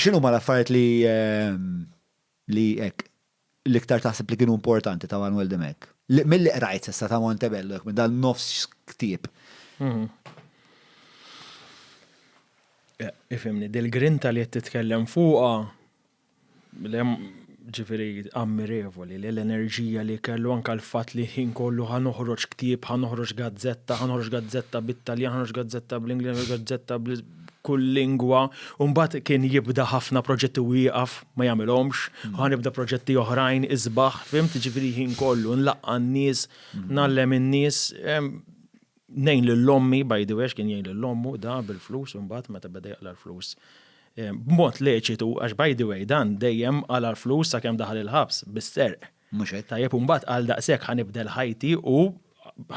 X'inhuma l-affarijiet li li hekk l-iktar taħseb li kienu importanti ta' Manwel Dimech? Milli qrajt s'issa ta' Montebello hekk minn dan nofs ktieb. Ifhimni, dil-grinta li qed titkellem fuqha Ġifieri ammirevoli li l-enerġija li kellu anke l-fatt li ħin kollu ħa noħroġ ktieb, ħa noħroġ gazzetta, ħa noħroġ gazzetta bit-Taljan, ħa noħroġ gazzetta bl-Ingliż, noħroġ gazzetta kull lingwa, u mbagħad kien jibda ħafna proġetti u jieqaf ma jagħmilhomx, hmm. ħa nibda proġetti oħrajn isbaħ, fimt ġifieri ħin kollu nlaqqa' n-nies, hmm. nallem in-nies, Ngħin lil ommi, by the way, għax kien jgħin lil ommu da bil-flus imbagħad meta beda jaqla l-flus. Eh, b'mod leċitu, għax by the way dan dejjem għala l-flus sakemm daħal il-ħabs bis-serq. Mhux hekk. Tajjeb u mbagħad għal daqshekk ħanibdel ħajti u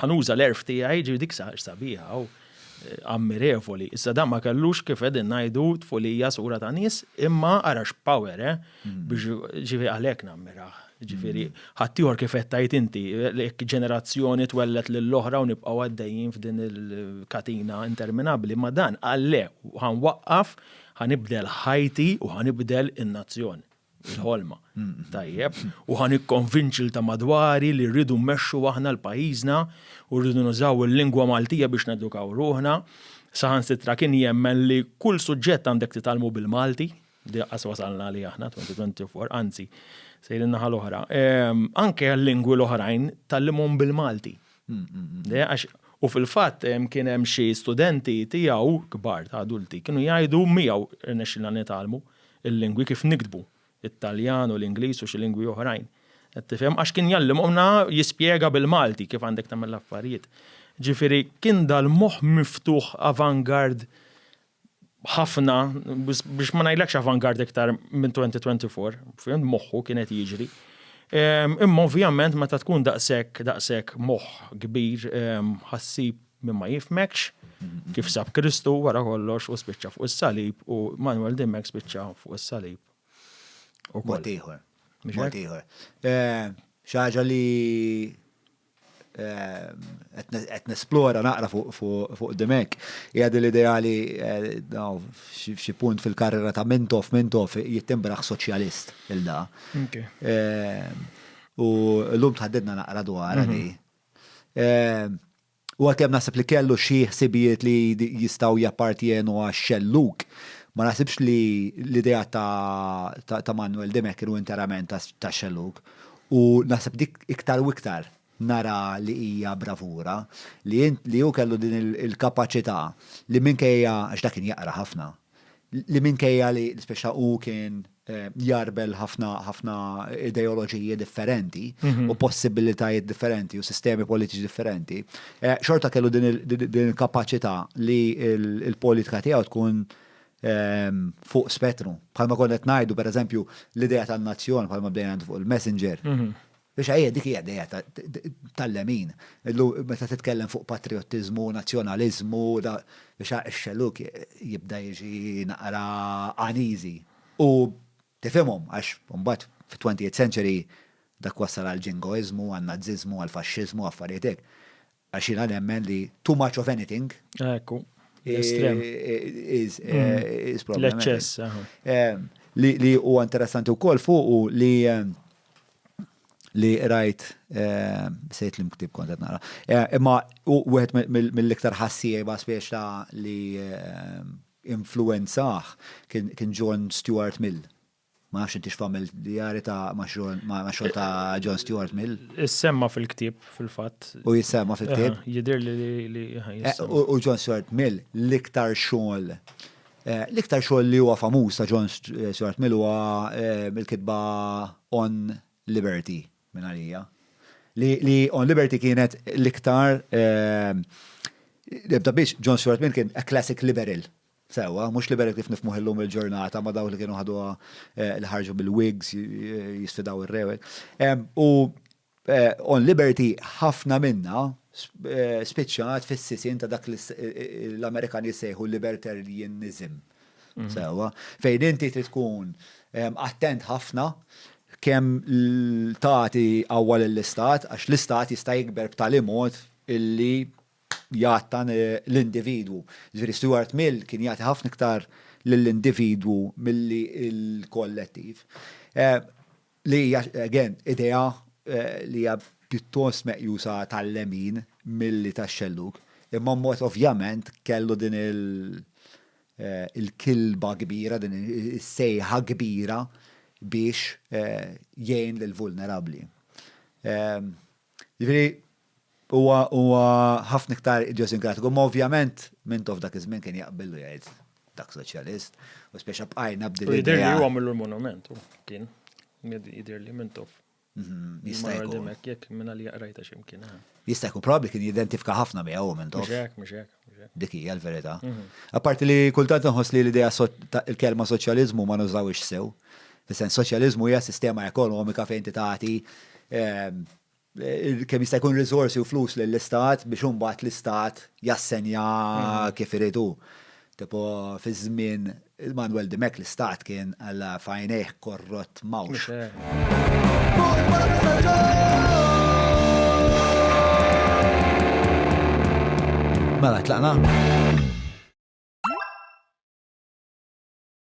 ħanuża l-erf tiegħi ġi dik sabiħa u eh, ammirevoli. Issa dan ma kellux kif qegħdin ngħidu tfulija sura ta' nies imma arax power, eh? Ġifieri għalhekk nammirah. Ġifieri ħaddieħor kif qed tgħid inti, jekk ġenerazzjoni twellet lill-oħra u nibqgħu għaddejjin f'din il-katina interminabbli, ma dan qal le, ħanwaqqaf, ħanibdel ħajti u ħanibdel in-nazzjon. Il-ħolma. Tajjeb. U ħan ikkonvinċi ta' madwari li rridu mmexxu aħna l-pajjiżna u rridu nużaw il-lingwa Maltija biex nedukaw ruħna. Saħansitra kien jemmen li kull suġġett għandek titalmu bil-Malti. Diqqas wasalna li aħna 2024, anzi, sejrin naħa l-oħra. Ehm, anke l-lingwi l-oħrajn tal-limon bil-Malti. Għax u fil-fatt ehm, kien hemm xi studenti tiegħu kbar ta' adulti kienu jgħidu miegħu rnexxilna nitalmu il-lingwi kif nikdbu it-Taljan u l-Ingliż u xi lingwi oħrajn. Qed tifhem għax kien jallimhomna jispjega bil-Malti kif għandek tagħmel l-affarijiet. Ġifieri kien dal-moħħ miftuħ avangard ħafna, biex ma ngħidlekx avant-garde iktar minn 2024, fimt moħħu kien qed jiġri. Imma ovvjament meta tkun daqshekk daqshekk moħħ kbir ħassib minn ma jifmekx kif sab Kristu wara kollox u spiċċa fuq is-salib u Manuel Dimmek spiċċa fuq is-salib. U mod ieħor. Mod ieħor. Xi ħaġa li qed nesplora naqra fuq dimek. Hija din l-idea li f'xi punt fil-karriera ta' Mintoff, Mintoff jittimbraħ soċjalist il da. U llum tħaddidna naqra dwar di. U għalkemm naħseb li kellu xi ħsibijiet li jistgħu jappartjenu għax-xellug, ma naħsibx li l-idea ta' Manwel Dimech kienu interament tax-xellug. U naħseb dik iktar u iktar nara li hija bravura li li hu kellu din il-kapaċità li minkejja, għax dak kien jaqra ħafna, li minkejja li speċa hu kien jgħarbel ħafna ħafna ideoloġiji differenti u possibilitajiet differenti u sistemi politiċi differenti, xorta kellu din il-kapaċità li l-politika tiegħu tkun fuq spettru. Bħalma konna qed ngħidu pereżempju l-idea tan-nazzjon bħalma bdejna fuq il-messenger. Mhm. Biex ħajja dik hija idea tal-lemin. Illu meta titkellem fuq patriottiżmu, nazzjonaliżmu, da biex ix-xelluk jibda jiġi naqra għaniżi. U tifhimhom għax mbagħad fit-20th century dak wassal għal ġingoiżmu, għan-naziżmu, għal faxxiżmu, affarijiet hekk. Għax jiena nemmen li too much of anything. Ekku, l-estrem. L-eċċess. Li huwa interessanti wkoll fuq u li li rajt sejt li mktib kont qed nara. Imma wieħed mill-iktar ħassieba spiex ta' li influenzah kien John Stuart Mill Ma nafx intix famil djari ta' ma' xogħol ta' John Stuart Mill. Issemma fil-ktieb fil-fatt. U jissemma fil-ktieb. Jidir li. Eh, u John Stuart Mill l-iktar xogħol eh, l-iktar xogħol li huwa famuż ta' John eh, Stuart Mill huwa mill-kitba On Liberty minn għalija. Li On Liberty kienet l-iktar Ebda biex John Stuart Mill kien a classic liberal Sewwa, mhux liberali kif nifhmuh illum il-ġurnata ma' dawk li kienu ħaduha li ħarġu mill-Whigs jisfidaw ir-re u hekk. U on liberty ħafna minnha spiċċat fis-sisien ta' dak l-Amerikani jsejħu libertarianism. Sewwa, fejn inti trid tkun attent ħafna kemm tagħti qawwa lill-istat għax l-istat jista' jikber b'tali mod illi jgħattan l-individwu. Ġifieri Stuart Mill kien jagħti ħafna iktar lill-individwu milli l-kollettiv. Li hija, again, idea li hija pjuttost meqjusa tal-lemin milli tax-xellug, imma mbagħad ovvjament kellu din il-kilba kbira, din is-sejħa kbira biex jgħin lill-vulnerabbli. Ġifieri Huwa huwa ħafna iktar idjosinkratiku, imma ovvjament Mintoff f'dak iż-żmien kien jaqbel u jgħid dak soċjalist, u speċa bqajna b'din l-idea. Jidhirli huwa għamillu l-monument hu kien. Jidhirli Mintoff. Jista' jkun. Jekk minn għalija qrajta xi mkien. Jista' jkun probabbli kien jidentifika ħafna miegħu Mintoff. Mhux hekk, mhux hekk. Dik hija l-verità. Apparti li kultant inħoss li l-idea il-kelma soċjaliżmu ma nużawhiex sew. Fis-sens soċjaliżmu hija sistema ekonomika fejn inti tagħti kemm jista' jkun riżorsi u flus lill-Istat biex imbagħad l-Istat jassenja kif irid hu. Tipo fiż-żmien Manuel Dimech l-Istat kien alla f'għajnejh korrott mawx. Mela tlaqna?